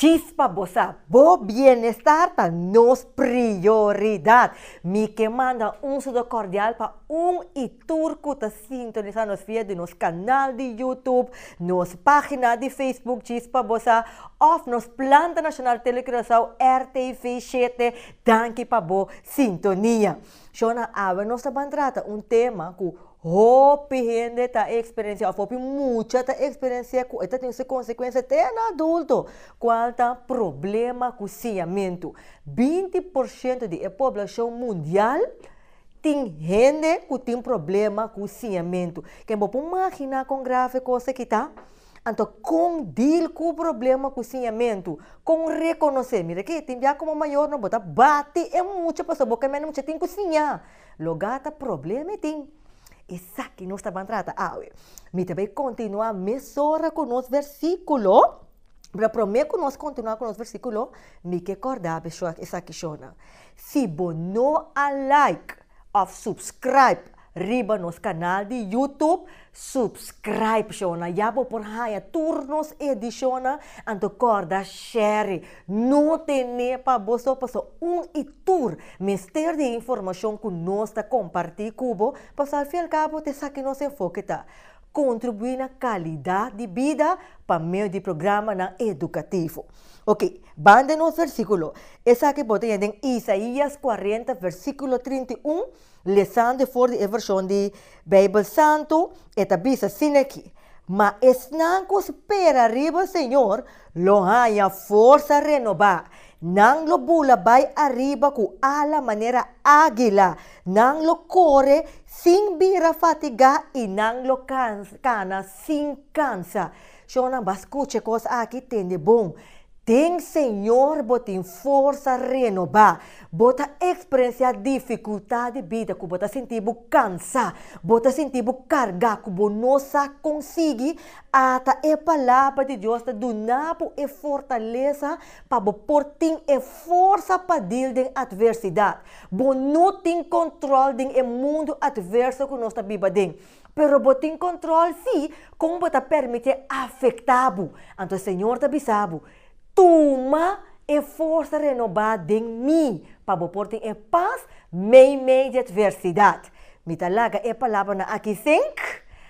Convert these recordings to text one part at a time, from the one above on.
Chispa bo sa, bo bienestar ta nos prioridad. Mi ke manda un sudo cordial pa un y tur cu ta sintonisa nos via di nos canal di YouTube, nos pagina di Facebook Chispa bo sa of nos planta nacional Tele Curaçao RTV shete. Danki pa bo sintonia. Shona awe nos ta ban trata un tema cu. Hopi hende ta eksperensiá, òf hopi mucha ta eksperensiá ku e ta tin su konsekuensia te na adulto. Kual ta problema ku siñamentu? Binti por shento di e poblashon mundial tin hende ku tin problema ku siñamentu. Ke bo por maginá kon grave kos aki ta? Anto kon dil ku problema ku siñamentu? Kon rekonosé? Mira ke tin bia komo mayornan bo ta bati e mucha pasobra bo ka manda e mucha tin ku siña. Lo gata problema mi tin? Esaki nos ta ban trata awe. Mi ta bay continua mesora cu nos versiculo. Pero prome cu nos continua cu nos versiculo, mi ke corda be esaki shownan. Si bo no a like of subscribe riba nos canal di YouTube, subscribe shownan. Ya bo por haya tur nos edicion nan, anto corda share. No ten'é pa boso paso un i tur mester di e informashon ku nos ta kompartí ku bo, paso al fin al kabo ta esaki nos enfoke ta, kontribuí na kalidat di bida pa medio di programanan edukativo. Oke, banda nos versíkulo, esaki bo ta hia den Isaías kuarenta versíkulo trinta i un, lesando for di e vershon di Beibel Santu, e ta bisa sin aki, Ma esnan ku spera riba Señor Lo haña forsa renobá. Nan lo bula bai ariba ku ala manera ágila. Nan lo kore sin bira fatigá i nan lo kana sin kansa. Shonnan, bo a skucha e kos aki, tende bon. Den Señor bo tin forsa renobá. Bo ta eksperensiá difikultat di bida ku bo ta sinti bo kansá, bo ta sinti bo kargá ku bo no sa konsigi Ata e Palabra di Dios ta duna bo e fortalesa pa bo por tin e forsa pa dil den atversidad. Bo no tin control den e mundo atverso cu nos ta biba den, pero bo tin control si con bo ta permite afecta bo. Anto e Señor ta bisa bo, Tuma e forsa renoba den mi, pa bo por tin e paz meimei di atversidad. Mi ta laga e palabranan aki sink.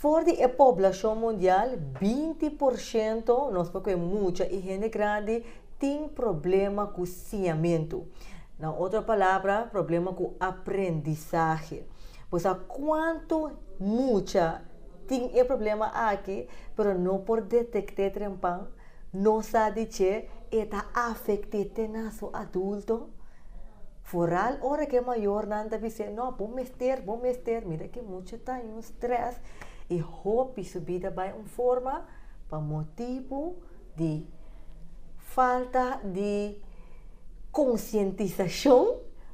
For di e poblashon mundial, binti por shento, nos por kue mucha i hende grandi, tin problema ku siñamentu. Na otro palabra, problema ku aprendisahe. Bo sa kuantu mucha Tin e problema aki, pero no por detect'é trempan, no sa di dje e ta afect'é te na su adulto. Vooral ora ke mayornan ta bis'é, no, bo mester, bo mester, mira ke mucha ta in un stress i hopi su bida bai un forma pa motibu di falta di conscientisacion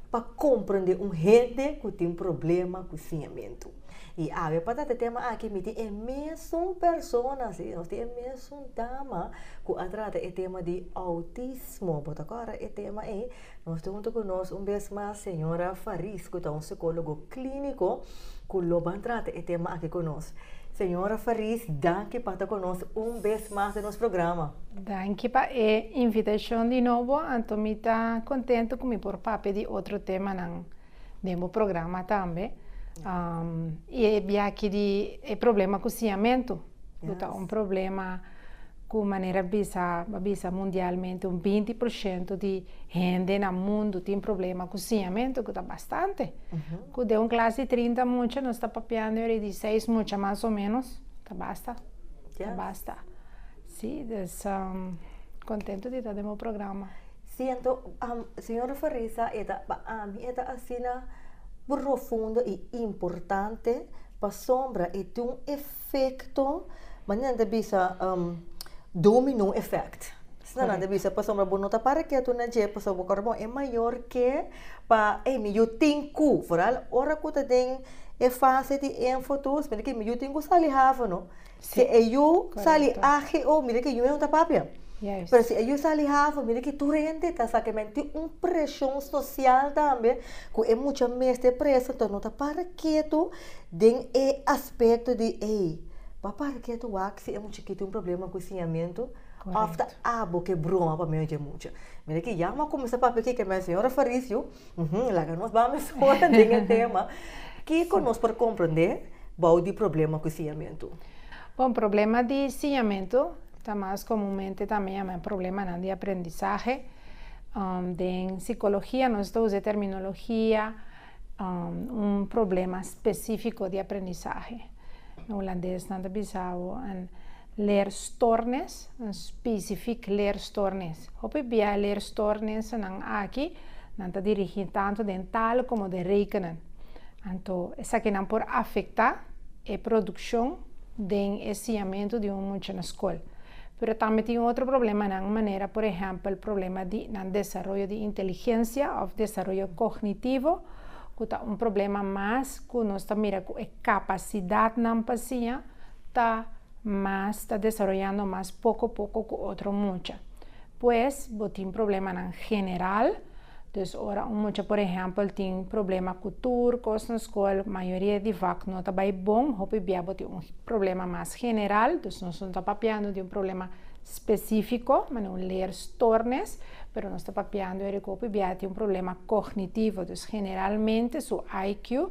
pa comprende un hende ku tin problema ku siñamentu. I awe pa tate tema aki mi tin e mesun persona si, nos tin e mesun dama ku a trata e tema di outismo. Bo ta kòrda e tema ei? Nos tin huntu ku nos un bes mas señora Faris ku ta un sikólogo klíniko ku lo ban trata e tema aki ku nos. Señora Faris, danki pa ta ku nos un bes mas den nos programa. Danki pa e invitashon di nobo, anto mi ta kontentu ku mi por papia di otro temanan. den bo programa tambe y e biachi di e problema cu siamento cu ta un problema cu manera bisa bo a bisa mundialmente un binti por shento di hende na mundo tin problema cu siamento cu ta bastante cu den un clase di trinta mucha nos ta papiando aver di seis mucha mas o menos ta basta ta basta si contento di ta den bo programa. Siento am señora Farisa e ta pa ami e ta asina profundo y importante pasobra e tin un efecto manera nan ta bisa um domino effect esnan nan ta bisa pasobra bo no ta para ketu na dje pasobra bo ora bo e mayor ke pa ey mi yu tin ku verdad ora ku ta den e fase di enfotos yu tin ku sali hafa no. Si e yu sali AGO, mira ki yu e un ta papia. Yes. Pero si e yu sali hafo, mira ki tur hende ta sa ke men tin un preshon sosial tambe ku e mucha mester presa, enton no ta para ketu den e aspekto di ey, bo para ketu wak si e mucha ki tin un problema ku siñamentu of ta abo ke broma pa medio di e mucha. Mira ki ya mo a kuminsá papia aki ke men señora Faricio Uhumm, laga nos bami foga den e tema. Kiko nos por komprendé bou di problema ku siñamentu? Bon, problema di siñamentu ta mas komunmente tambe yam'é problemanan di aprendisahe. Den sikologia nos ta usa e terminologia un problema spesífiko di aprendisahe. Hulandes nan ta bisa bo. Leerstoornis, un spesifik leerstoornis. Hopi bia leerstoornisnan aki nan ta dirigí tantu den tal komo den rekenen. Anto esakinan por afektá e produkshon den e siñamentu di un mucha na skol. Pero tambe tin otro problemanan manera por ehèmpel problema di nan desaroyo di inteligensia òf desaroyo kognitivo ku ta un problema mas ku nos ta mira ku e kapasidatnan pa siña, ta mas ta desaroyando mas poko poko ku otro mucha. Pues bo tin problemanan general, dus ora un mucha por ehèmpel tin problema ku tur kos na skol, mayoria di vak no ta bai bon, hopi bia bo tin un problema mas general, dus nos no ta papiando di un problema spesífiko, manera un leerstoornis, pero nos ta papiando eri ku hopi bia tin un problema kognitivo, dus generalmente su IQ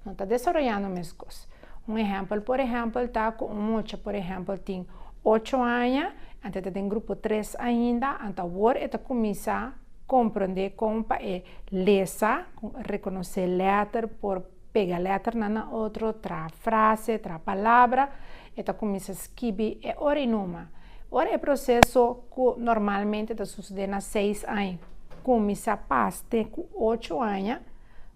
no ta desaroyando meskos. Un ehèmpel por ehèmpel ta ku un mucha por ehèmpel tin ocho aña, anto e ta den grupo tres ainda, anto awor e ta kuminsá komprondé kon pa e lesa, rekonosé lèter, por pega lèternan na otro, traha frase, traha palabra, e ta kuminsá skibi e ora i numa. Ora e proseso ku normalmente ta susedé na seis aña, kuminsá pas te ku ocho aña,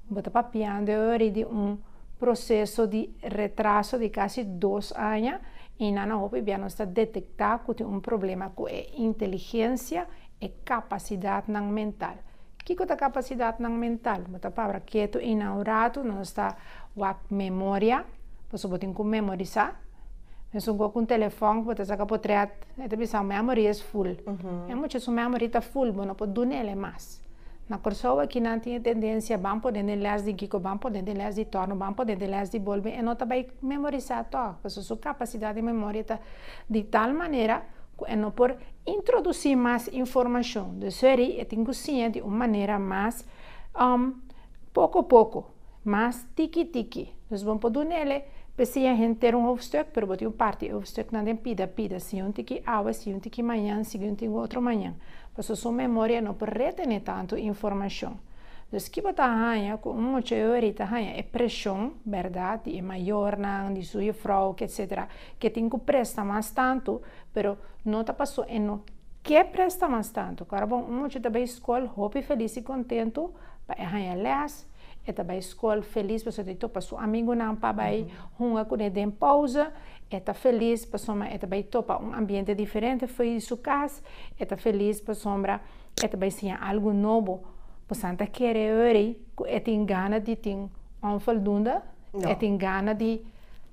Bo ta papiando e ori di un proseso di retraso di kasi dos aña i na na hopi bia nos ta detektá ku tin un problema ku e inteligensia, e kapasidatnan mental. Kiko ta kapasidatnan mental? Bo ta pabra ketu i na un ratu nos ta wak memoria, pasobra bo tin ku memorisá. Mesun ku un telefòn ku bo ta saka potret, e ta bisa, Bo memory is full. Muchu su memory ta full, bo no por duna el e mas. Na Kòrsou aki nan tin e tendensia ban pone den lès di giko, ban pone den lès di tòrno, ban pone den lès di bolbe, e no ta bai memorisá tò, pasobra su kapasidat di memoria ta di tal manera ku e no por introdusí mas informashon. Desoriyi e tin ku siña di un manera mas poko poko. Mas tiki tiki. Dus bo por duna el e pesia henter un hoofdstuk, pero bo tin un parti e hoofdstuknan den pida pida, sigui un tiki awe, sigui un tiki mañan, sigui un tiki otro mañan, pasobra su memoria no por retene tantu informashon. Dus ki bo ta haña ku un mucha e ori ta haña e preshon, bèrdat, di e mayornan, di su yefrouke, etc. Ke tin ku presta mas tantu, pero no ta pasobra e no ke presta mas tantu. Ku ora bon un mucha ta bai skol, hopi felis i kontentu pa e haña lès, E ta bai skol felis pasobra e topa su amigunan pa bai hunga ku e den pouze. E ta felis pasobra e ta bai topa un ambiente diferente for di su kas. E ta felis pasobra e ta bai siña algu nobo. Pasanan ta kere wòrdu ku e tin gana di tin onvoldoende? E tin gana di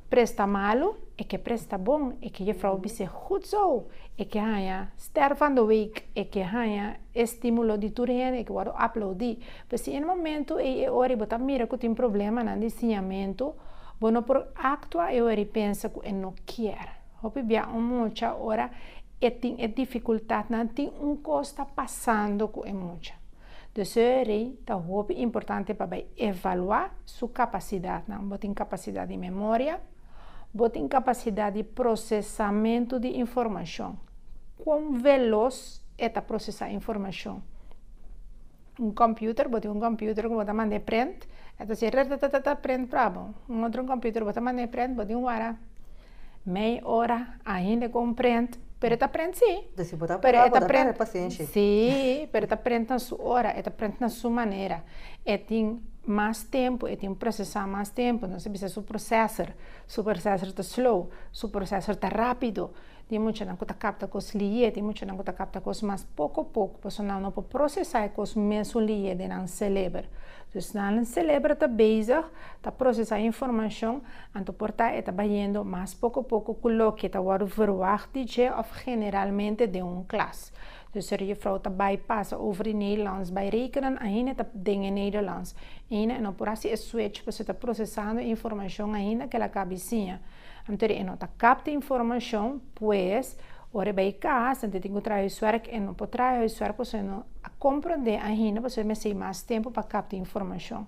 presta malu? E ke presta bon. E ke jefrouw a bis'é, Gud zo! E ke haña ster van de week. E ke haña e stimulo di tur hende. E ke wòrdu aplaudí. P'esei e momentu ei e ora i bo ta mira ku tin problemanan di siñamentu, bo no por aktua e ora i pensa ku e no kier. Hopi bia un mucha ora e tin e difikultatnan tin un kos ta pasando ku e mucha. Desoerei ta hopi importante pa bai evaluá su kapasidatnan. Bo tin kapasidat di memoria? Bo tin kapasidat di prosesamentu di informashon? Kon velos e ta prosesá informashon? un computer bo tin un computer cu bo ta manda e prent e ta haci ratatatata prent para bo un otro computer bo ta manda e prent bo tin wara mei ora ainda con prent pero e ta prent si Deci bo ta pero apura e bo ta ta prent tene pacencia si pero e ta prent na su ora e ta prent na su manera e tin mas tempo e tin procesa mas tempo entonces bisa su procesor su procesor ta slow su procesor ta rapido Tin muchanan ku ta kapta kos liyé, tin muchanan ku ta kapta kos mas poko poko, pasobra nan no por prosesá e kos mesun liyé den nan seleber. Dus nan seleber ta bezig ta prosesá informashon, anto por ta e ta bayendo mas poko poko ku loke ta wòrdu verwagt di dje òf generalmente den un klas. Dus er juffrouw ta bai pasa over e Nederlands bai rekenen ainda ta den e Nederlands. Ainda e no por hasi e switch pasobra ta procesando e informacion ainda kel a cabi siña. Antori e no ta capta e informacion, pues, ora e bai cas anto e tin cu traha huiswerk, e no por traha huiswerk pasobra e no a comprende ainda pasobra e mester bai mas tempo pa capta e informacion.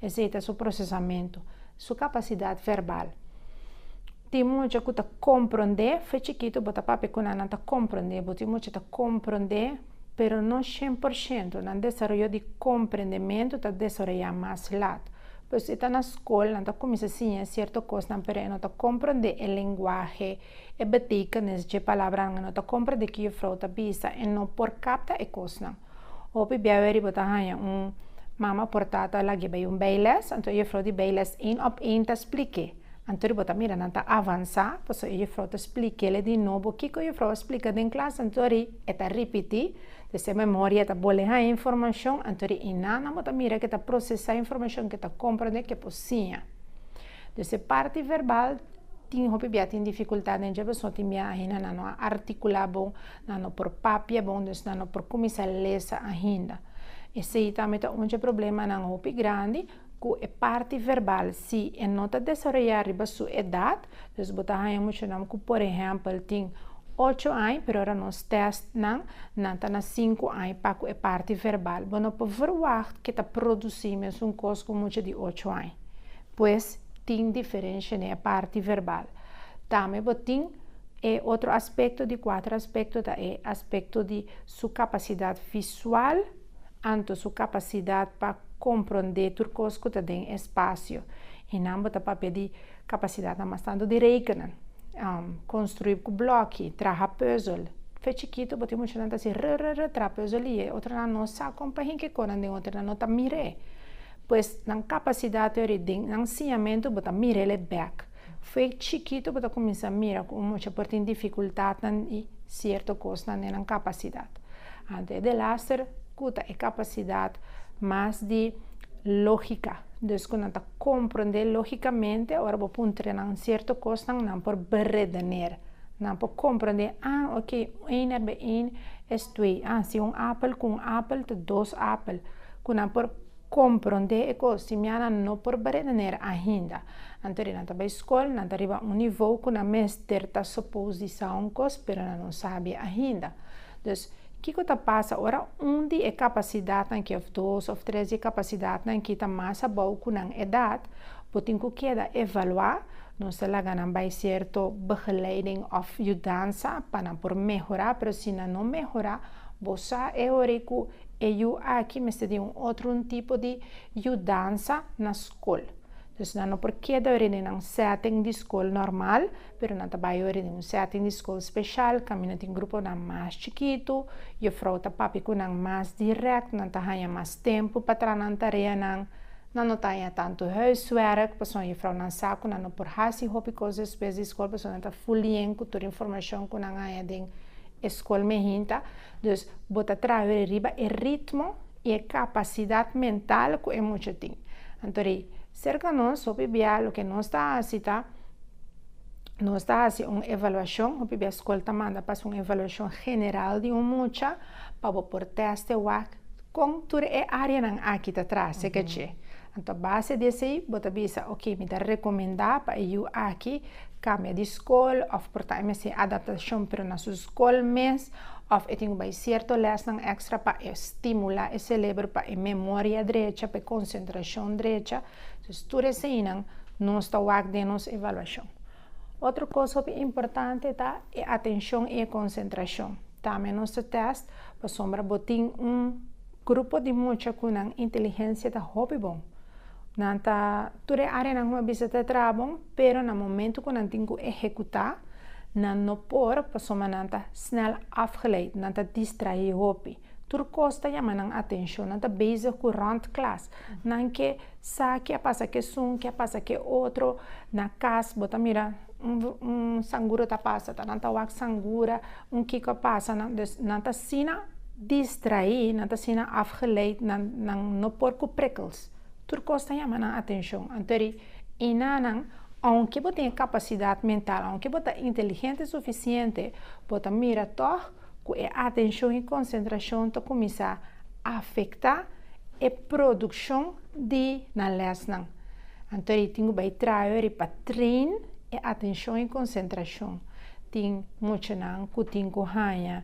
Esey ta su procesamento, su capacidad verbal. Tin mucha ku ta komprondé, fe chikitu bo ta papia ku nan, nan ta komprondé bo. Tin mucha ta komprondé, pero no shen por shento. Nan desaroyo di komprendementu ta desaroyá mas lat. Por eso e ta na skol, nan ta kuminsá siñae sierto kosnan, pero e no ta komprondé e lenguahe, e betekenis dje palabranan. E no ta komprondé ke jufrou ta bisa. E no por kapta e kosnan. Hopi bia weri bo ta haña un mama por tata lag'e bai un beiles, anto e jufrou di beiles, ein op ein ta splik'e. Anto bo ta mira nan ta avansa, paso e jefrou ta splikel di nobo kiko jefrou a splika den klas, antori e ta ripiti, dus e memoria ta bole haña informashon, antori inannan bo ta mira ke ta prosesá informashon ke ta komprondé ke por siña. Dus e parti verbal tin hopi bia tin difikultat den dje paso tin bia ainda nan no a artikulá bon, nan no por papia bon, dus nan no por kuminsá lesa ainda. Esei tambe ta un dje problemanan hopi grandi. Ku e parti verbal, si e no ta desaroyá riba su edat, dus bo ta haña muchanan ku por ehèmpel tin ocho añ, pero ora nos tèstnan, nan ta na sinku añ pa ku e parti verbal. Bo no por verwagt ku e ta produsí mesun kos ku un mucha di ocho añ. Pues, tin diferensha den e parti verbal. Tambe bo tin e otro aspekto, di kuater aspekto ta e aspekto di su kapasidat visual. anto su kapasidad pa komprondé tur kos ku ta den e spasio, i nan bo ta papia di kapasidatnan mas tantu di rekena, konstruí ku blòki, traha pùzel. Fe chikitu bo tin mucha nan ta hasi rrrr traha pùzel i e otronan no sa kon pa hinke kon nan den otronan no ta mir'é. Pues nan kapasidat yòri den nan siñamentu bo ta mir'el e bèk. Fe chikitu bo ta kuminsá mira ku un mucha por tin difikultatnan i sierto kosnan den nan kapasidat. Anto e delaster kuta e kapasidat mas di lógika, dus ku nan ta komprondé lógikamente. Ora bo puntra nan sierto kosnan, nan por beredener, nan por komprondé, a ok, eén er bij eén es twee, a si un apel ku un apel ta dos apel, ku nan por Kon prondé e kos si mianan no por baredener ainda? Anto di nan ta bai skol, nan ta riba un nivou ku nan mester ta sopous di sa un kos, pero nan no sabia ainda. Dus, kiko ta pasa ora un di e kapasidatnan ki òf dos òf tres di e kapasidatnan ki ta mas abou ku nan edat bo tin ku keda evaluá? Nos ta laga nan bai sierto begeleiding òf yudansa pa nan por mehorá, pero si nan no mehorá, bo sa e hora ei ku E yu aki mester tin un otro un tipo di yudansa na skol. Dus nan no por keda ori den nan setting di skol normal, pero nan ta bai ori den un setting di skol speshal kaminda tin gruponan mas chikitu, yofrou ta papia ku nan mas dirèkt, nan ta haña mas tempu pa traha nan tareanan, nan no ta haña tantu huiswerk, pasobra yofrounan sa ku nan no por hasi hopi kos despues di skol pasobra nan ta full lien ku tur informashon ku nan haña den e skol me hinta. Dus, bo ta traha riba e ritmo i e kapasidat mental ku e mucha tin. Anto rei, serka nos, hopi bia loke nos ta hasi ta, nos ta hasi un evaluashon, hopi bia skol ta manda pas un evaluashon general di un mucha, pa bo por teste wak kon tur e áreanan aki ta traha serka dje. Anto base di esei, bo ta bisa, ok, mi ta rekomendá pa e yu aki kambia di skol òf por ta hasi mester e adaptashon, pero na su. skol mes òf e tin ku bai sierto lèsnan èkstra pa e stimula e selebro pa e memoria drecha, pa e konsentrashon drecha. Entonces tur eseinan nos ta wak den nos evaluashon. Otro kos hopi importante ta e atenshon i e konsentrashon. Tambe nos ta tèst pasobra bo tin un grupo di mucha ku nan intelihensia ta hopi bon. Nan ta tur e áreanan ku mi a bisa ta traha bon, pero na momentu ku nan tin ku ehekutá, nan no por pasobra nan ta snel afgeleid, nan ta distraé hopi. Tur kos ta yama nan atenshon, nan ta bezig ku rònt klas, nan ke sa ke a pasa ku esun, ke a pasa ku e otro. Na kas bo ta mira un sangura ta pasa, ta nan ta wak sangura, un kiko a pasa nan. Dus nan ta asina distraí, nan ta asina afgeleid, nan no por ku prikkels. Tur kos ta yama nan atenshon. Anto ri, i nanan, ounke bo tin e kapasidat mental, ounke bo ta inteligente sufisiente, bo ta mira tòg ku e atenshon i konsentrashon ta kuminsá afektá e produkshon di nan lèsnan. Anto ri, tin ku bai trayo ri pa train e atenshon i konsentrashon. Tin muchanan ku tin ku haña.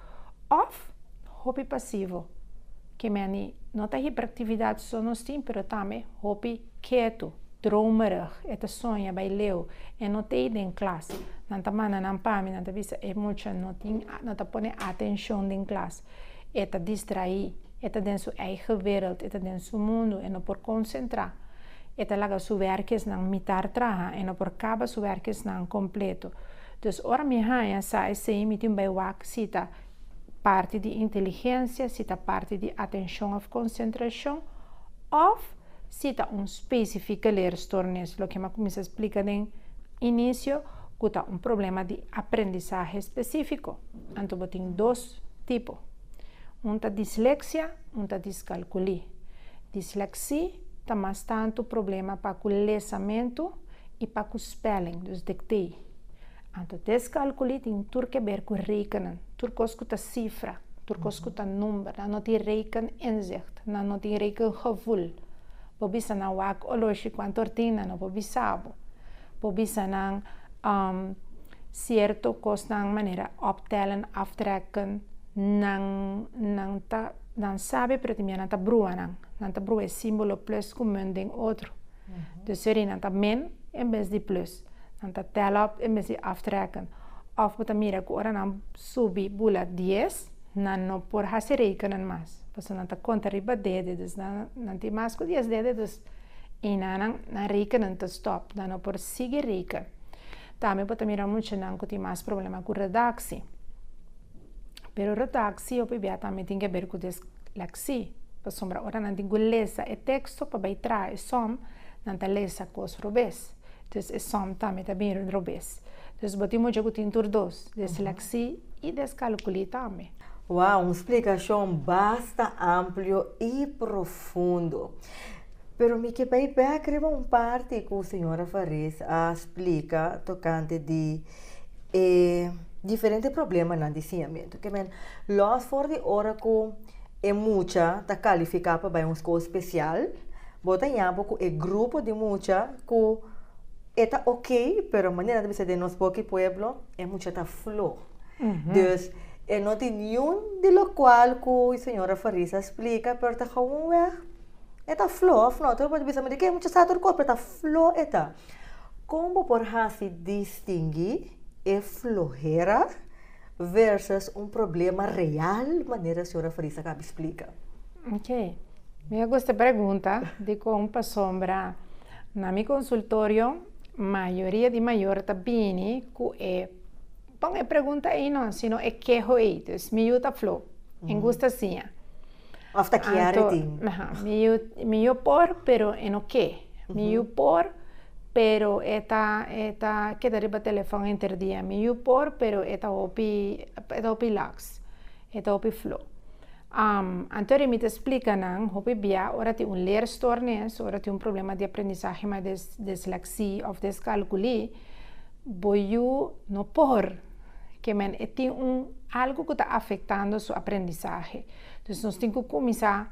Òf hopi pasivo, ke meni no ta hiperaktividat so nos tin, pero tambe hopi ketu, dromerig, e ta soña bai leu, e no tei den klas, nan ta manda nan pami, nan ta bisa e mucha no tin, no ta pone atenshon den klas, e ta distraí, e ta den su eigen wereld, e ta den su mundu, e no por konsentrá, e ta laga su wèrkisnan mitar traha, e no por kaba su wèrkisnan kompleto. Dus ora mi haña sa esei mi tin bai wak si ta parti di inteligensia, si ta parti di atenshon òf konsentrashon òf si ta un spesifika leerstoornis, loke mi a kuminsá splika den inisio ku ta un problema di aprendisahe spesífiko. Anto bo tin dos tipo. Un ta disleksia, un ta diskalkulí. Disleksí ta mas tantu problema pa ku lesamentu I pa ku spelling, dus dikté. Anto deskalkulí tin tur ke ber ku rekenen. Tur kos ku ta sifra, tur kos ku ta number, nan no tin rekeninzicht, nan no tin rekengevoel. Bo bisa nan wak oloshi kuantor tin nan no bo bisa bo. Bo bisa nan sierto kosnan manera optellen, aftrekken, nan nan ta nan sabe pero también nan ta brua nan. Nan ta brua e simbolo plus ku mun den otro. Dus sorry nan ta min en bes di plus. Nan ta tel op en bes di aftrekken. Of bo ta mira ku ora nan subi bula dies, nan no por hasi rekening mas. Pasobra nan ta konta riba dede. Dus nan tin mas ku dies dede, dus eynan nan, nan rekening ta stòp. Nan no por sigui reken. Tambe bo ta mira muchanan ku tin mas problema ku redaksi. Pero redaksi hopi bia tambe tin ke ber ku des. Lèksí, pasobra ora nan tin ku lesa e teksto pa bai traha e som, nan ta lesa kos robes. Dus e som tambe ta bin robes. Dus bo tin mucha ku tin tur dos, desleksí i deskalkulí tambe. Wow, un splikashon basta amplio i profundo. Pero mi ke bai bèk riba un parti ku señora Faris a splika tokante di. e diferente problemanan di siñamentu ke men lòs for di ora ku e mucha ta kalifiká pa bai un skol spesial, bo ta ña bo ku e grupo di mucha ku e ta oke, pero manera nan ta bisa den nos boki pueblo, e mucha ta flo. Dus e no tin niun di lokual ku e señora Farisa a splika, pero ta gawun wèg e ta flo. Òf no? Tur bo ta bisa, ma di ke e mucha sa tur kos? Pero ta flo e ta. Kon bo por hasi distingui e flohera versus un problema real manera Sra. Farisa kabi splika? Ok, mi a gusta pregunta di kon pasobra na mi konsultorio mayoria di mayor ta bini ku e, pon e pregunta ei no, sino e keho ei, dus mi yu ta flo en gusta siña. Of ta kia Anto, ritin? Aha, mi yu, mi yu por, pero e no ke. Mi yu por, pero e ta, e ta keda riba telefòn interdia. Mi yu por, pero e ta hopi, e ta hopi laks. E ta hopi flo. Anto ri mi ta splika nan, hopi bia ora tin un leerstoornis, ora tin un problema di aprendisahe ma des, desleksí òf deskalkulí, bo yu no por. ke men e tin un algu ku ta afektando su aprendisahe. Dus nos tin ku kuminsá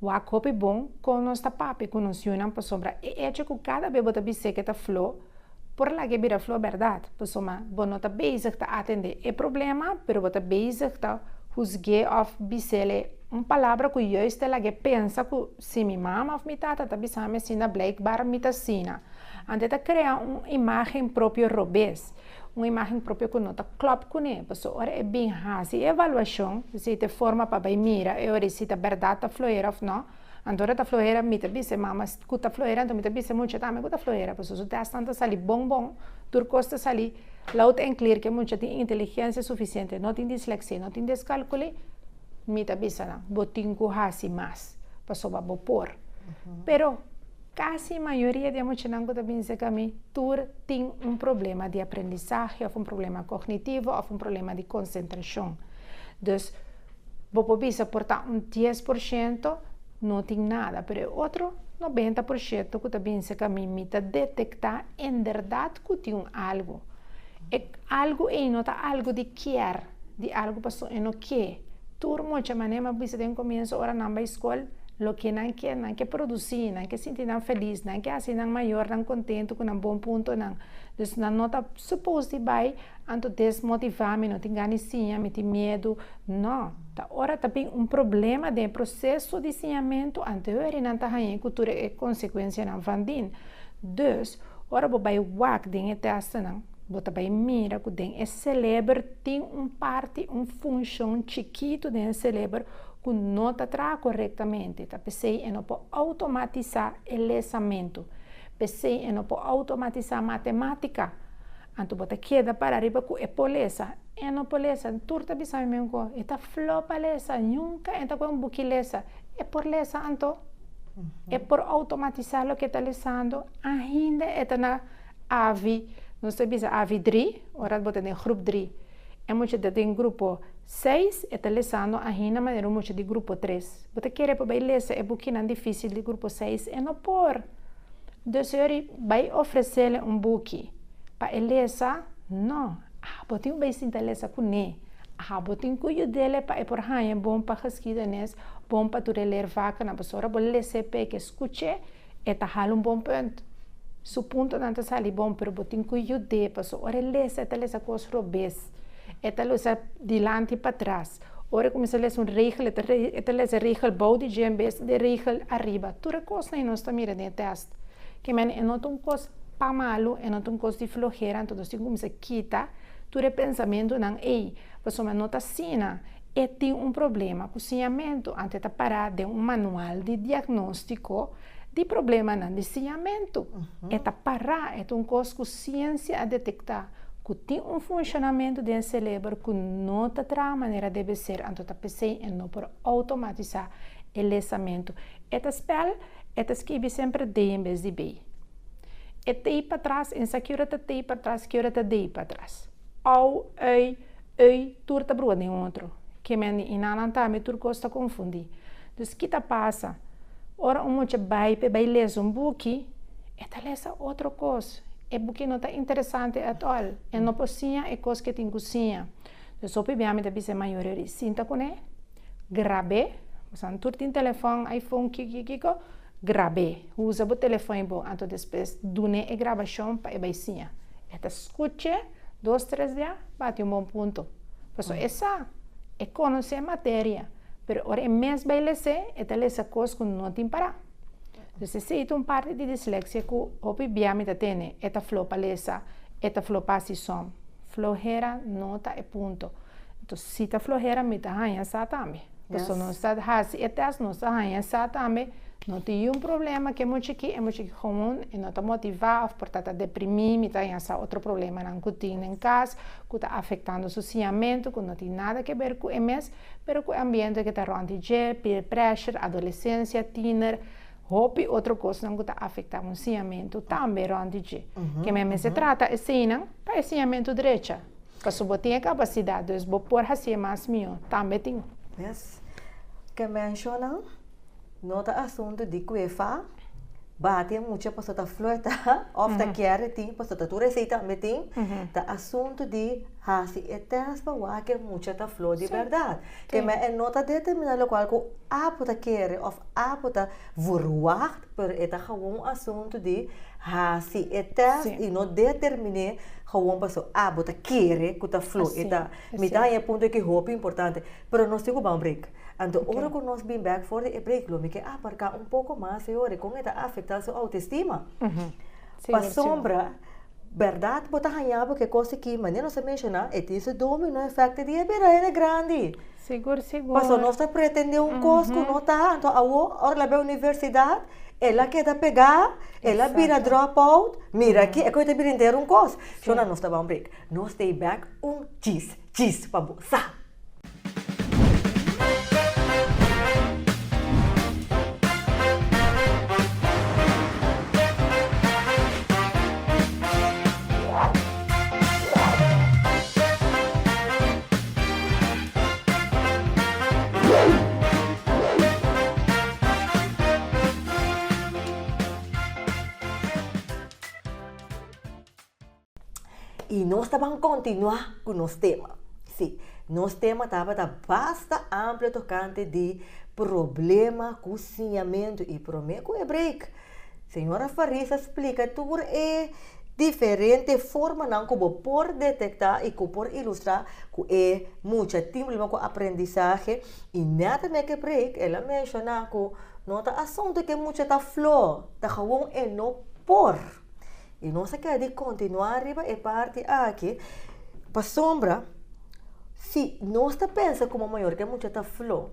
wak hopi bon kon nos ta papia ku nos yunan pasobra e echo ku kada be bo ta bis'é ke ta fló por laki'é bira fló bèrdat pasobra bo no ta bezig ta atendé e problema pero bo ta bezig ta husg'é òf bis'é un palabra ku yùis ta laki'é pensa ku Si mi mama of mi tata ta bisami asina, blijkbaar mi ta asina. Ante ta krea un imágen propio robes, un imágen propio ku no ta klòp kuné. Pasó ora e bin hasi e evaluashon, si e ta e forma pa bai mira e ora si ta bèrdat ta fluera òf nò. Ante ora ta fluera mi ta bisa e mama ku ta fluera, anto mi ta bisa e mucha tambe ku ta fluera. Pasó su tèstnan ta sali bon bon, tur kos ta sali loud and clear, ku e mucha tin inteligensia sufisiente, no tin dislèksia i no tin deskalkuli. Mi ta bisa nan, bo tin ku hasi mas pasobra bo por. Pero kasi mayoria di e muchanan ku ta bin serka mi tur tin un problema di aprendisahe òf un problema kognitivo òf un problema di konsentrashon. Dus bo por bisa por ta un dies por shento no tin nada pero e otro nobenta por sheto ku ta bin serka mi, mi ta detektá en bèrdat ku tin un algu. E algu ei no ta algu di kier, di algu pasobra e no ke. Tur mocha manera mi a bisa den komienso ora nan bai skol, loke nan ke, nan ke produsí, nan ke sinti nan felis, nan ke hasi nan mayornan kontentu ku nan bon puntonan. Dus nan no ta supos di bai anto desmotivá, mi no tin gana siña, mi tin miedu. No. Ta ora ta bin un problema den e proseso di siñamentu, anto e wehri nan ta hañ'é ku tur e konsekuensianan van din. Dus. Ora bo bai wak den e tèstnan, bo ta bai mira ku den e seleber tin un parti, un funshon chikitu den e seleber ku no ta traha korektamente, ta p'esei e no por outomatisá e lesamentu. P'esei e no por outomatisá matematika. Anto bo ta keda para riba ku e polesa, e no polesa, N tur ta bisa mi men ku e ta fló pa lesa, nunka e ta kue un buki lesa. E por lesa anto, e por outomatisá loke e ta lesando, ainda e ta na avi, nos ta bisa avi dri, ora bo ta den grup dri. E mucha ta den grupo seis, e ta lesando ainda manera un mucha di grupo tres. Bo ta kere pa bai lesa e bukinan difísil di grupo seis, e no por. Dus Uri bai ofresele un buki pa e lesa? No, abo tin cu bai sinta lesa cu ne. Abo tin cu yudele pa e por haya bon pa geschidenis, bon pa tur e leer vakennan, pasobra ora bo lese p'e cu e scuche, e ta hala un bon punt. Su puntonan ta sali bon, pero bo tin cu yud'e, pasobra ora e lesa, e ta lesa cos robes, e ta lesa dilanti y patras. Ora e cuminsa les un regel e ta e ta les e regel bao di dje en bes di e regel ariba. Tur e cosnan e nos ta mira den e test ke men e no ta un cos pa malu, e no ta un cos di flojera anto nos tin cuminsa kita tur e pensamentunan ey pasobra men no ta asina e tin un problema cu siñamento anto e ta para den un manual di diagnostico. Di problemanan di siñamentu. E ta pará, e ta un kos ku siensia a detektá ku tin un funshonamentu den e serebro ku no ta traha manera debe ser, anto ta p'esei e no por outomatisá e lesamentu. E ta spèl, e ta skibi semper dei en bes di bei. E tei patras, en sa kiora ta tei patras, kiora ta dei patras. Ou, ui, Ey, tur ta brua den otro. Kemen di Inalan tambe tur kos ta konfundí. Dus ki ta pasa? Ora un mucha bai p'e bai lesa un buki, e ta lesa otro kos. E buki no ta interesante at all. E no por siña e kos ke tin ku siña. Dus hopi biaha mi ta bisa e mayoria di sinta kuné, grab'é. Bosan tur tin telefòn, iPhone, kiko, kiko, kiko, grab'é. Usa bo telefòn i bo. Anto despues dun'é e grabashon pa e bai siña. E ta skuch'é. Dos tres dia bati un bon punto pasobra e sa e conoce e materia pero ora e mes bay lese e ta lesa cos cu no tin para entonces esey ta un parti di dislexia cu hopi bia mi ta tene e ta flo pa lesa e ta flo pa haci som flojera no ta e punto entonces si ta flojera mi ta haya sa tambe. Paso nos ta hasi e test nos ta haña sa tambe no tin un problema cu e mucha aki e mucha aki gewoon e no ta motiva of por ta ta deprimi mi ta haña sa otro problemanan cu tin den cas cu ta afectando su siñamento cu no tin nada que ber cu e mes pero cu e ambiente que ta rond di dje peer pressure adolescencia tiener hopi otro cosnan cu ta afecta un siñamento tambe rond di dje que mi a mester trata esayinan pa e siñamento drecha. Paso bo tin e capacidad dus bo por haci e mas miho tambe tin. Yes ke menciona no ta asunto di cu e fa bati e mucha paso ta flirta of ta kiere tin paso ta tur esey tambe tin ta asunto di haci e test pa wak ke mucha ta flor di berdad ke me e no ta determina locual cu apo ta kiere of apo ta. Verwacht, pero e ta gewoon asuntu di hasi e test i no determiné gewoon paso a bo ta kere ku ta flu. E ta, mi ta haña e punto aki hopi importante. Pero nos tin ku ban break. Anto ora ku nos bin bèk for di e break lo mi ke a parká un poko mas ei ora. Kon e ta afektá su autoestima? Pasobra bèrdat bo ta haña bo ke kos aki, manera nos a menshoná, e tin su domino efèkto di e bira hende grandi. Sigur sigur. Paso nos ta pretende un cos cu no ta, anto awo ora el a bira universidad, el a keda pega, el a bira drop out, mira aki e cu yo ta bira henter un cos. Shona nos ta baw un break, nos ta e back un chis chis pa bo sa. Y nos ta ban continua cu nos tema. Sí, nos tema tabata basta amplio tocante di problema cu siñamento. Y prome cu e break. Señora Faris a splica tur e diferente formanan cu bo por detecta y cu por ilustra cu e mucha tin problema cu aprendizahe y net ta make break el a menciona cu no ta asunto cu e mucha ta flo, ta gewoon e no por. Y nos a kere di continua riba e parti aki pasobra si nos ta pensa como mayor cu e mucha ta flo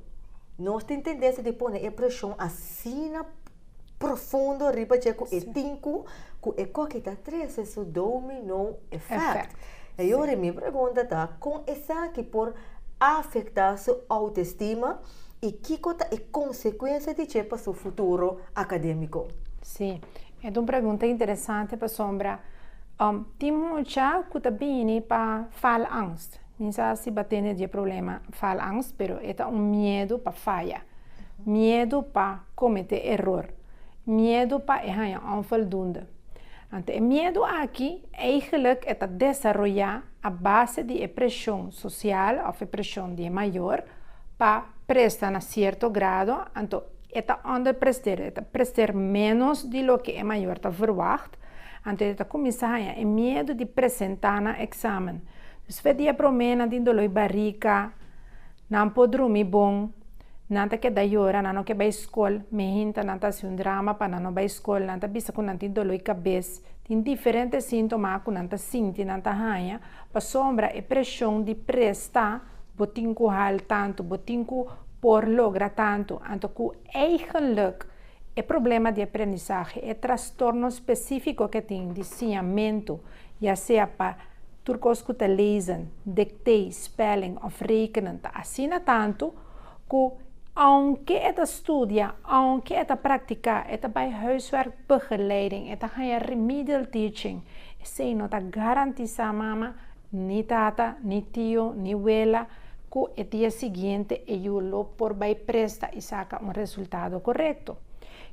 nos tin tendencia di pone e presion asina profundo riba dje ku e tinku ku e koki ta trese su domino effect. E yori mi pregunta ta kon esaki por afektá su outestima i kiko ta e konsekuensia di dje pa su futuro akademiko? Sí, e ta un pregunta interesante pasobra tin mucha ku ta bini pa faalangst. Mi sa si bo a tene dje problema falangst, pero e ta un miedu pa faya, miedu pa komete eror, miedu pa e haña onfoldunde. Ante e miedu aki, eigenlik e ta desaroyá a base di e preshon sosial òf e preshon di e mayor pa presta na sierto grado, anto e ta ònderpresteren, e ta presteren ménos di loke e mayor ta verwagt. August. Anto e ta kuminsá haña e miedu di presentá nan eksamen. Dus fes dia promé nan tin doló i barika, nan por drumi bon, nan ta keda yora, nan no ke bai skol, mehinta nan ta hasi un drama pa nan no bai skol, nan ta bisa ku nan tin doló i kabes. Tin diferente síntoma ku nan ta sinti nan ta haña pasobra e preshon di presta, bo tin ku hal tantu, bo tin ku por logra tantu, anto ku eigenlik E problema di aprendisahe, e trastorno spesífiko ke tin di siñamentu, ya sea pa tur kos ku ta lezen, dektei, spèling òf rekenen, ta asina tantu ku ounke e ta studia, ounke e ta praktiká, e ta bai huiswerkbegeleiding, e ta haña remedial teaching, esei no ta garantisá mama Ni tata, ni tio, ni wela, ku e dia siguiente e yu lo por bai presta i saka un resultado korekto.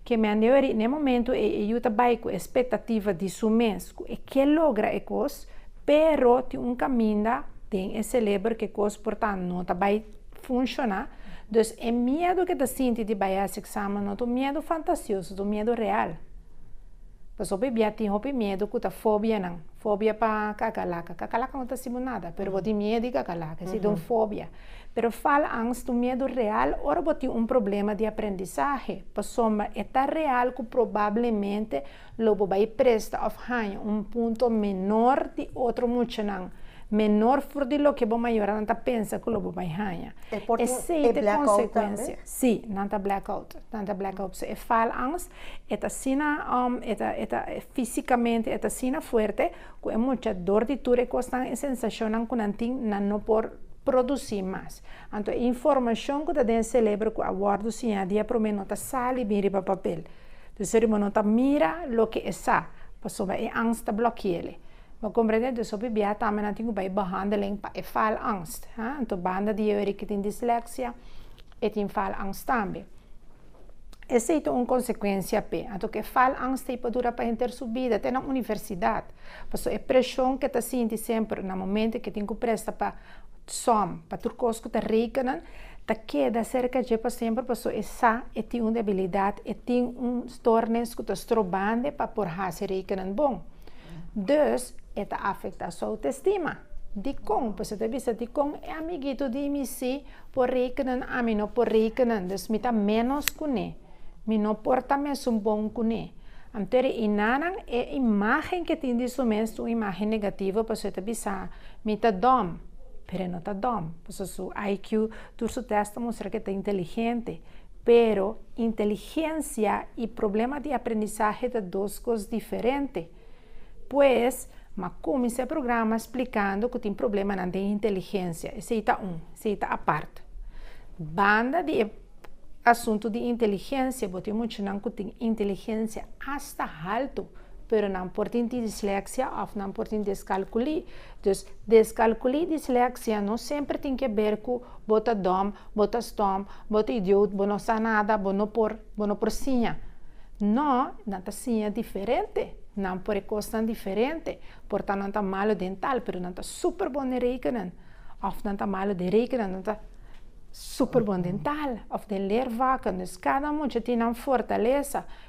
Ke men di weri, na e momentu ei e yu ta bai ku e spektativa di su mes ku e ke logra e kos, pero tin un kaminda den e seleber ku e kos por ta no ta bai funshoná. Dus e miedu ke ta sinti di bai hasi eksamen no ta un miedu fantasioso, ta un miedu real. Pasobra bibia tin hopi miedu ku ta fobianan. Fobia pa kakalaka. Kakalaka no ta hasi bo nada, pero bo tin miedu di kakalaka. Esei ta un fobia. Pero falangst ta un miedu real ora bo tin un problema di aprendisahe. Pasobra e ta real ku probablemente lo bo bai presta òf haña un punto menor di otro muchanan, menor for di loke bo mayoranan ta pensa ku lo bo bai haña. Esei ta e konsekuensia. Sí, nan ta blackout. Nan ta blackout. So e faalangst, e ta asina, um, e ta, e ta, físicamente, e ta asina fuerte, cu e mucha dor di tur e cosnan, e sensacionnan cu nan tin, nan no por produci mas. Anto e informacion cu ta den e celebro cu a wordo siña diaprome no ta sali bin riba papel. Dor bo no ta mira loke e sa, pasobra e angst ta blokiele. Bo comprende? Entonces hopi biaha tambe nan tin cu bay behandeling pa e faalangst. Entonces banda di Yewerik que tin dyslexia e tin faalangst tambe. Esey ta un consecuencia p'e. Anto que e faalangst ey por dura pa henter su bida te na universidad. Paso e presion que ta sinti semper na momento que tin cu presta pa som, pa tur cos cu ta rekennan, ta keda cerca dje pa semper paso e sa e tin un debilidad, e tin un stoornis cu ta stroobande pa por haci rekennan bon. Dus, e ta afektá su autoestima. Dikon? Pues e ta bisa, Dikon e amigitu di mi sí por rekenan, ami no por rekenan? Dus mi ta ménos kuné. Mi no por ta mesun bon kuné. Anto e inanan, e imágen ku e tin di su mes ta un imágen negativo, pasobra e ta bisa, Mi ta dòm. Pero e no ta dòm, pasobra su IQ, tur su tèst ta mustra ku e ta inteligente. Pero, inteligencia y problema di aprendizaje ta dos cos diferente. Pues, m'a cuminsa e programa splicando cu tin problemanan den inteligencia. Esey ta un, esey ta apart. Banda di e asunto di inteligencia, bo tin muchanan cu tin inteligencia hasta halto, pero nan por tin dislexia of nan por tin descalculi. Dus, deskalkulí disleksia no semper tin ke ber ku bo ta dom, bo ta stom, bo ta idiout, bo no sa nada, bo no por, bo no por siña. No, nan ta siña diferente, nan por e kosnan diferente. Por ta nan ta malu den tal, pero nan ta super bon den rekenen. Òf nan ta malu den rekenen, nan ta super bon den tal, òf den leer vakken. Dus kada mucha tin nan fortalesa.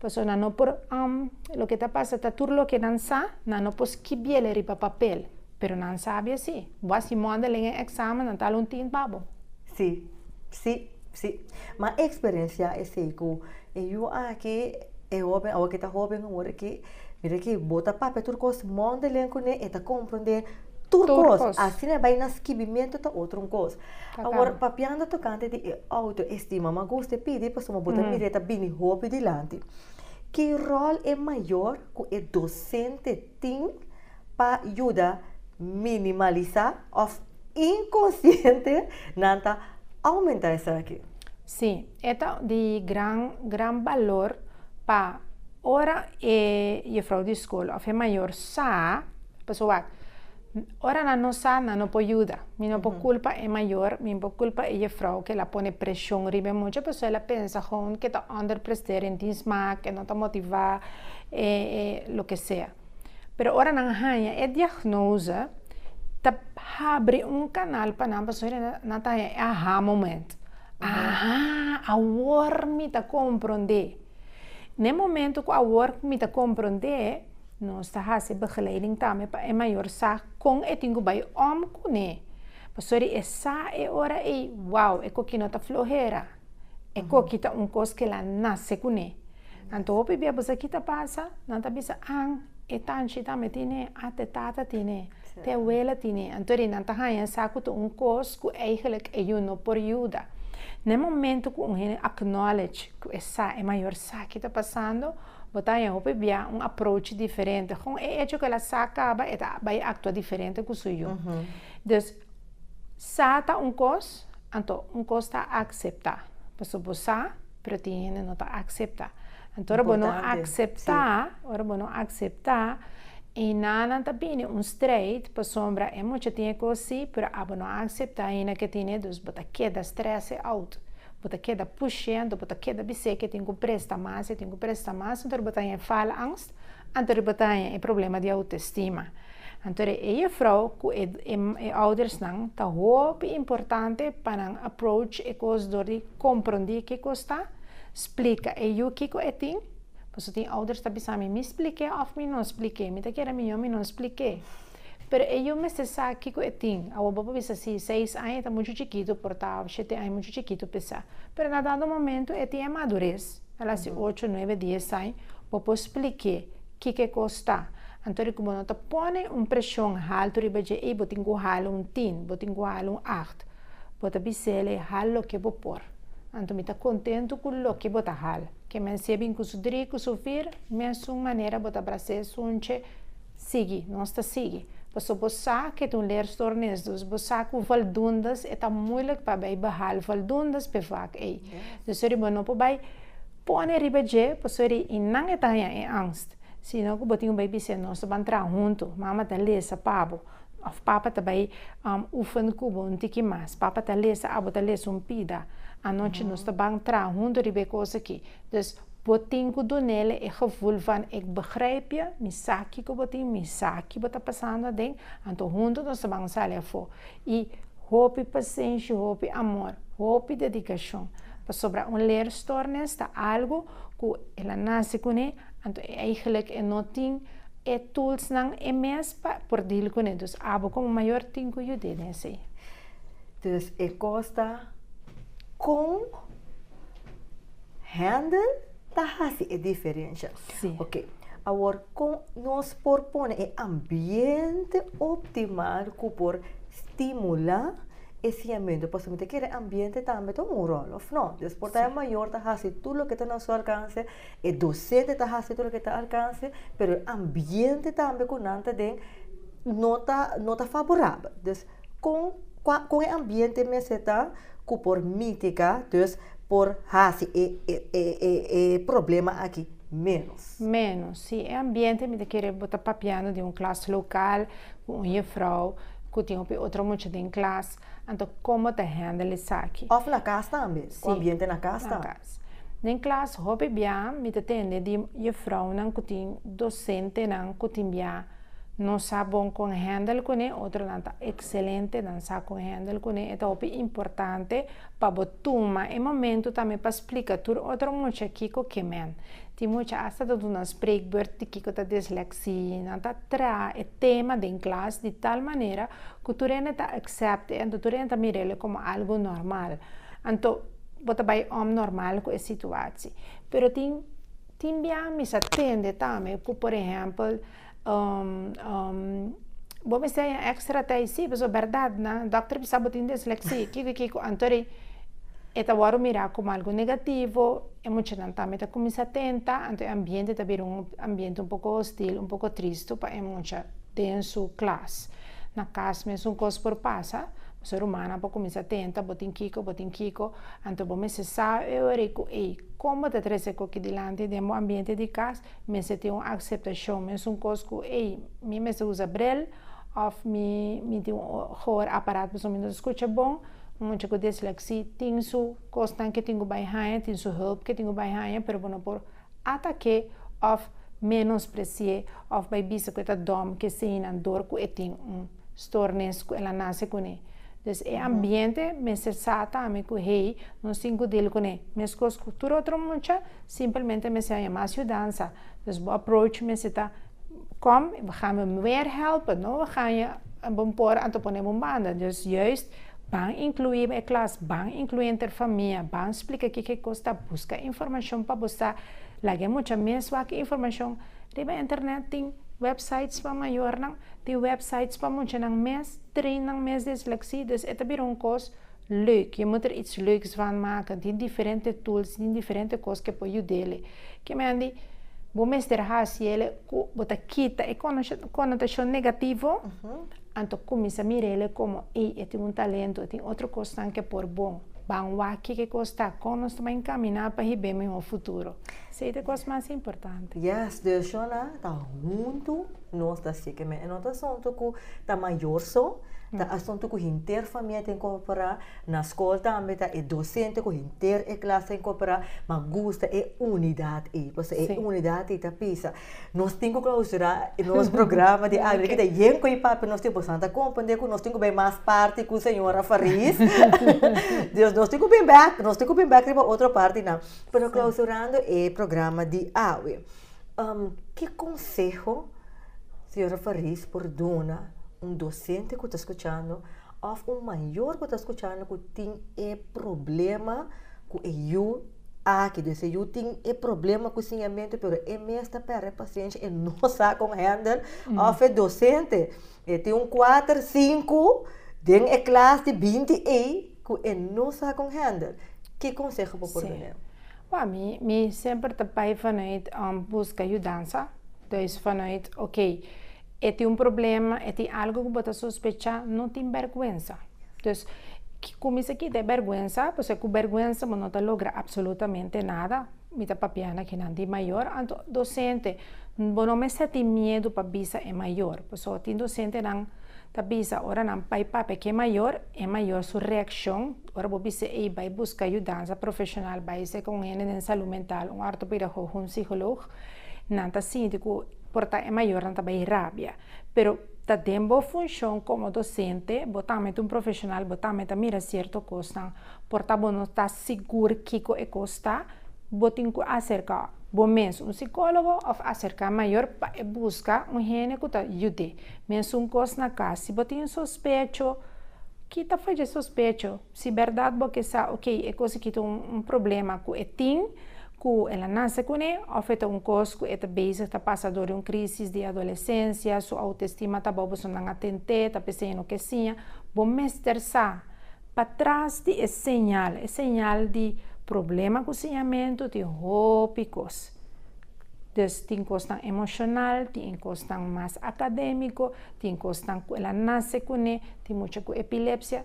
Pasobra nan no por, loke ta pasa ta tur loke nan sa, nan no por skibiel riba papel, pero nan sabia si. Bo a si modeling e examen, nan ta hala un tint pa bo. Si, si, si. M'a experenciá esei cu e yu aki, e hóben, awo ke ta hóben awor aki, mira ki bo ta papia tur cos modeling cuné, e ta comprendé Tur kos. Asina bai na skibimentu ta otro un kos. Awor, papiando tokante di e outo estima, mi a gusta e pidi pasobra mi a gusta mira e ta bini hopi dilanti. Ki ròl e mayor ku e dosente tin pa yuda minimalisá òf inkonsiente nan ta oumentá esaki? Sí, e ta di gran, gran balor pa ora e yufrou di skol òf e mayor sa, pasobra wak, ora nan no sa, nan no por yuda. Mi no por kulpa e mayor, mi no por kulpa e yufrou ku el a pone preshon riba e mucha pasobra el a pensa kon ku e ta ònderprestá, e rintin smak, e no ta motivá, e lo ke sea. Pero ora nan haña e diagnose, ta habri un kanal pa nan pasobra nan ta haña e aha moment. Aha, awor mi ta komprondé. N'e momento ku awor mi ta komprondé, nos ta hasi begeleiding tambe pa e mayor sa kon e tin ku bai om kuné. Pasobra e sa e ora ei, wou, e kokinan ta flohera. E koki ta un kos ke la nase kuné. Anto hopi bia pues aki ta pasa, nan ta bisa, an, e tanchi tambe tine, a te tata tine, te abuela tine. Anto ri nan ta haña sa ku ta un kos ku eigelik e yu no por yuda. Na e momento ku un hende acknowledge ku e sa e mayor sa ke ta pasando, bo ta haña hopi bia un approach diferente. Gon e echo ke la sa kaba e ta bai aktua diferente ku su yu. Dus, Sa ta un kos, anto un kos ta akseptá. Pasobra bo sa, pero tin hende no ta akseptá. Anto ora bo no akseptá, ora bo no akseptá, e nanan ta bini un streit pasobra e mucha tin e kos sí, pero abo no a akseptá aina ku e tin e, dus bo ta keda strese out. Bo ta keda push'é, anto bo ta keda bis'é ku e tin ku presta mas, e tin ku presta mas. Anto ora bo ta haña faalangst, anto ora bo ta haña e problema di autestima. Anto e juffrouw ku e e oudersnan ta hopi importante pa nan approach e kos dor di komprondí kikos ta, splika e yu kiko e tin, paso tin ouders ta bisa mi mi splik'é òf mi no splik'é, mi ta kere mihó mi no splik'é, pero e yu mester sa kiko e tin, awor bo por bisa si seis aña ta muchu chikitu por ta òf shete aña muchu chikitu pe sa, pero na dado momento e tin e madures, a la si ocho, nuebe, dies aña bo por splik'é. Kiko e kos ta? Anto di ku bo no ta pone un preshon haltu riba dje ei, bo tin ku hala un tin, bo tin ku hala un acht. Bo ta bis'é el ei, hal loke bo por. Anto mi ta kontentu ku loke bo ta hal. Ke mensje bin ku su dri, ku su vir, mesun manera bo ta bras'é sunche sigui, nos ta sigui. Pasobra bo sa ku e ta un leer stor nes dus, bo sa ku valdundas e ta muilik pa bai behal valdundas pe vak ei. Dusori bo no por bai. Pone riba dje, pasobra di i nan e ta haña e angst, sino ku bo tin ku bai bis'é, Nos ta ban traha huntu, Mama ta lesa pa bo, òf Papa ta bai um oefen ku bo un tiki mas, Papa ta lesa, abo ta lesa un pida. Anochi nos ta ban traha huntu riba e kos aki. Dus, bo tin ku dun'é e gevoel van ik begrijp je, mi sa kiko bo tin, mi sa ki bo ta pasando aden, anto huntu nos ta ban sali afó. i hopi pasenshi hopi amor hopi dedikashon pasobra un leerstoornes ta algu ku el a nase kuné anto e aigelik e no tin e toolsnan e mes pa por deal kuné dus abo komo mayor tin ku yud'é den esei. Dus e kos ta kon handle. ta hasi e diferensha. Sí. Ok, awor kon nos por pone e ambiente optimal ku por stimulá e siñamentu? Pasobra mi ta kere ambiente tambe ta un ròl, òf nò? Des por ta e mayor ta hasi tur loke ta na su alkanse, e dosente ta hasi tur loke ta alkanse, pero e ambiente tambe ku nan ta den no ta no ta faborabel. Kon kua kon e ambiente mester ta ku por mitiga dus por hasi e e e e e problema aki menos? Menos, si. E ambiente mi ta kere bo ta papiando den un klas lokal ku un jefrouw ku tin hopi otro mucha den klas, anto kon bo ta hendel esaki? Òf na kas tambe, ku ambiente na kas ta? Si, na kas. Den klas hopi bia mi ta tende di jefrounan ku tin dosentenan ku tin bia. Nos sa bon con handle cune, otronan ta excelente, nan sa con handle cune, e ta hopi importante pa bo tuma e momento tambe pa splica tur otro mucha kico ke men. Tin mucha hasta ta duna spreekbeurt di kico ta dyslexie, nan ta traha e tema den klas di tal manera cu tur hende ta accept'e anto tur hende ta mir'e como algo normal, anto bo ta bay om normal cu e situatie. Pero tin Tin bia mi sa tende tambe ku por ehèmpel bo mester haña èkstra tè i si pasobra bèrdat na dòkter a bisa bo tin desleksi i kiko i kiko anto di e ta wòrdu mirá komo algu negativo e muchanan tambe ta kuminsá tenta anto e ambiente ta bira un ambiente un poko hostil un poko tristu pa e mucha den su klas na kas mes un kos por pasa pasobra rumannan por kuminsá tenta bo tin kiko bo tin kiko. Anto bo mester sa e ora ku ei kon bo ta tres ekoki dilanti den bo ambiente di kas, mester tin un akseptashon, mesun kos ku ei mi mester usa brel òf mi mi tin un hoor aparat pasobra mi no ta skucha bon, un mucha ku disleksi tin su kosnan ke tin ku bai haña, tin su hulp ke tin ku bai haña pero bo no por atake òf menospresié òf bai bisa ku e ta dòm ku eseinan dor ku e tin un stornis ku el a nase kuné. Dus e ambiente mester sa ta ami ku hei nos tin ku dil kuné meskos ku tur otro mucha, simplemente mester haña mas yudansa. Dus bo approach mester ta. Kom, we gaan bo meer helpen, no? We gaan je bon por anto pone bo banda. Dus juist ban inclui bo e klas, ban inclui henter famia, ban splika kiko e kos ta, buska informashon pa bo sa. Laga e mucha mes wak informashon. Riba e internet tin wèpsites pa mayornan, tin wèpsites pa muchanan mes, treinnan mes disleksia, dus e ta bira un kos Leuk, je moet er iets leuks van maken, tin diferente tools, tin diferente cos ke por judele, ke mende bo mester haci ele cu bo ta kita e connotacion negativo, anto cuminsa mira ele como ey e tin un talento, e tin otro cosnan ke por bon, ban wak ke cos ta, con nos ta bay encamina pa hib'é mihor futuro, esey ta e cos mas importante. Yes, decision nan ta hunto. Nos ta siki men. E no ta asuntu ku ta mayor so, ta asuntu ku henter famia ta inkorporá. Na skol tambe ta e dosente ku henter e klas ta inkorporá, ma gusta e unidat ei. Pasobra e unidat ei ta bisa. Nos tin ku klausurá nos programa di año aki ta yen ku e papia nos tin ku bastante. A komprende ku nos tin ku bai mas parti ku señora Fariz. Dios nos tin ku bin bèk, nos tin ku bin bèk riba otro partinan. Pero klausurando e programa di awe. Ki konseho Señora Fariz por duna un dosente ku ta skuchando òf un mayor ku ta skuchando ku tin e problema ku e yu aki? Des e yu tin e problema ku siñamentu pero e mes ta pèrdè pasiensha, e no sa kon hèndel, òf e dosente E tin un kuater, sinku den e klas di binti ei ku e no sa kon hèndel. Ki konseho bo por duna el? Wèl, mi mi semper ta bai vanuit buska yudansa. Dus vanuit, ok, e tin un problema, e tin algu ku bo ta sospecha, no tin bèrgwensa. Dus, kuminsa kita e bèrgwensa, pasobra ku bèrgwensa bo no ta logra apsolutamente nada. Mi ta papia na kinan di mayor, anto docente, bo no mester tin miedu pa bisa e mayor, pasobra tin docentenan ta bisa ora nan bai papia cu e mayor, e mayor su reaccion, ora bo bisa ey bai busca yudansa profesional, bai ser con un hende den salud mental, un ortopedagogo, un psycholoog, nan ta sinti cu por ta e mayornan ta bai rabia. Pero ta den bo funcion como docente, bo tambe ta un profesional, bo tambe ta mira cierto cosnan, por ta bo no ta sigur kiko e kos ta, bo tin ku aserká bo mes un sikólogo òf aserká mayor pa e buska un hende ku ta yud'é. Mesun kos na kas, si bo tin sospecho, kita fo dje sospecho. Si bèrdat bo ke sa okey e kos aki ta un problema ku e tin, ku el a nase kuné òf e ta un kos ku e ta bezig ta pasa dor di un krísis di adolesensia, su outestima ta bobo so nan a tent'é ta p'esei e no ke siña, bo mester sa. Pa tras di e señal, e señal di problema ku siñamentu, tin hopi kos. Des tin kosnan emoshonal, tin kosnan mas akadémiko, tin kosnan ku el a nase kuné, tin mucha ku epilepsia.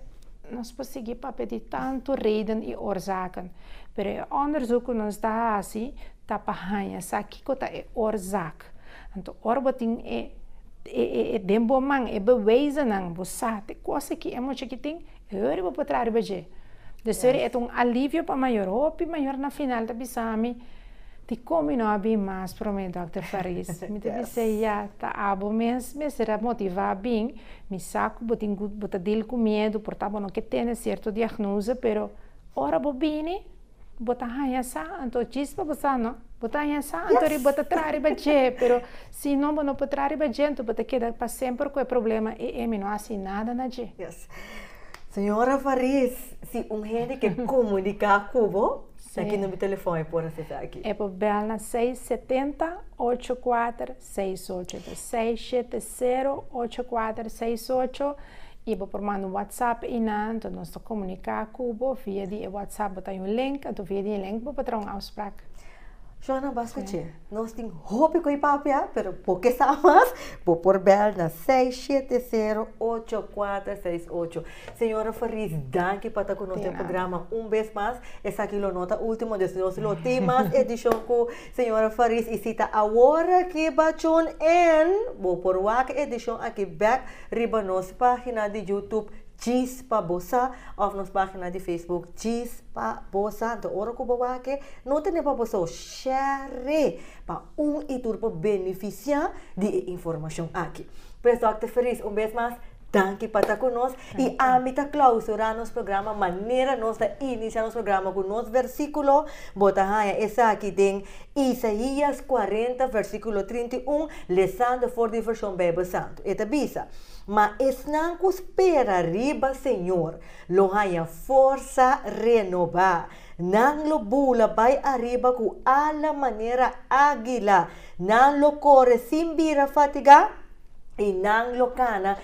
Nos por sigui papia di tantu reden i orzaken, pero e òndersuk ku nos ta hasi ta pa haña sa kiko ta e orzak. Jesús. Anto ora bo tin e e den bo man e bewijzennan, bo sa te kos aki e mucha aki tin, e ora bo por traha riba dje. Desha ora e ta un alivio pa mayor. Hopi mayor na final ta bisa mi, Dikon mi no a bin mas promé, Dòkter Fariz? Mi ta bisa, Ya, ta abo mes mester a motivá bin. Mi sa ku bo tin ku bo ta dil ku miedu, por ta bo no ke tende sierto diagnosa, pero ora bo bini, Bo ta haña sa, anto djis pa bo sa no. Bo ta haña sa, anto ri bo ta traha riba dje. Pero si no bo no por traha riba dje, anto bo ta keda pa semper ku e problema ei, ei mi no hasi nada na dje. Yes. Señora Fariz, si un hende ke komuniká ku bo, na ki number telefòn e por hasi esaki? E por bèl na seis setenta, ocho kuater, seis ocho. Seis shete. sero, ocho, kuater, seis, ocho, i bo por manda un whatsapp i na anto nos ta komuniká ku bo via di e whatsapp bo ta yu un link anto via di e link bo por traha un afsprak. Shona basta tje nos tin hopi ku e papia pero bo ke sa mas bo por bèl na seis, shete, sero, ocho, kuater, seis, ocho. Señora Fariz danki pa ta ku nos den programa un bes mas esaki lo no ta ultimo despues nos lo tin mas edishon ku Señora Faris y si ta awor aki bachon en bo por wak edicion aki bek riba nos pagina di youtube Djis pa bo sa of nos pagina di facebook Djis pa bo sa nta ora cu bo wake no tene pa bo so share pa un y tur por beneficia di e informacion aki pues Dòkter Faris un bes mas. Danki pa ta ku nos i ami ta klausurá nos programa manera nos ta inisiá nos programa ku nos versíkulo. Bo ta haña esaki den Isaías 40, versíkulo 31, lesando for di Vershon Beibel Santu. E ta bisa, Ma esnan ku spera riba Señor lo haña forsa renobá, Nan lo bula bai ariba ku ala manera ágila, nan lo kore sin bira fatigá i nan lo kana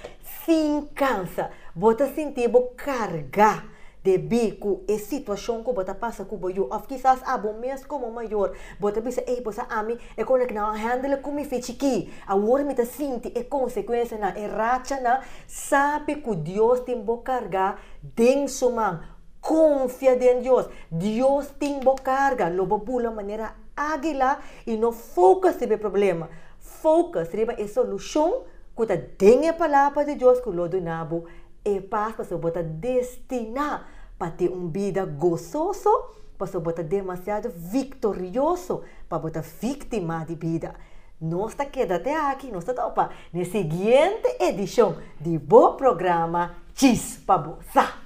sin kansa. Bo ta sinti bo kargá debí ku e situashon ku bo ta pasa ku bo yu. Òf kisas abo mes komo mayor bo ta bisa, Ey, pues a ami e kosnan ku nan a ban hèndele ku mi f'e chikí. Awor mi ta sinti e konsekuensianan, e rachanan. Sabi ku Dios tin bo kargá den su man. Konfia den Dios. Dios tin bo karga. Lo bo bula manera ágila i no fokus riba e problema. Fokus riba e solushon ku ta den e Palabra di Dios ku lo duna bo e pas pasobra bo ta destiná pa tin un bida gososo pasobra bo ta demasiado viktorioso pa bo ta víktima di bida. Nos ta keda te aki, nos ta topa n'e siguiente edishon di bo programa Djis pa bo sa!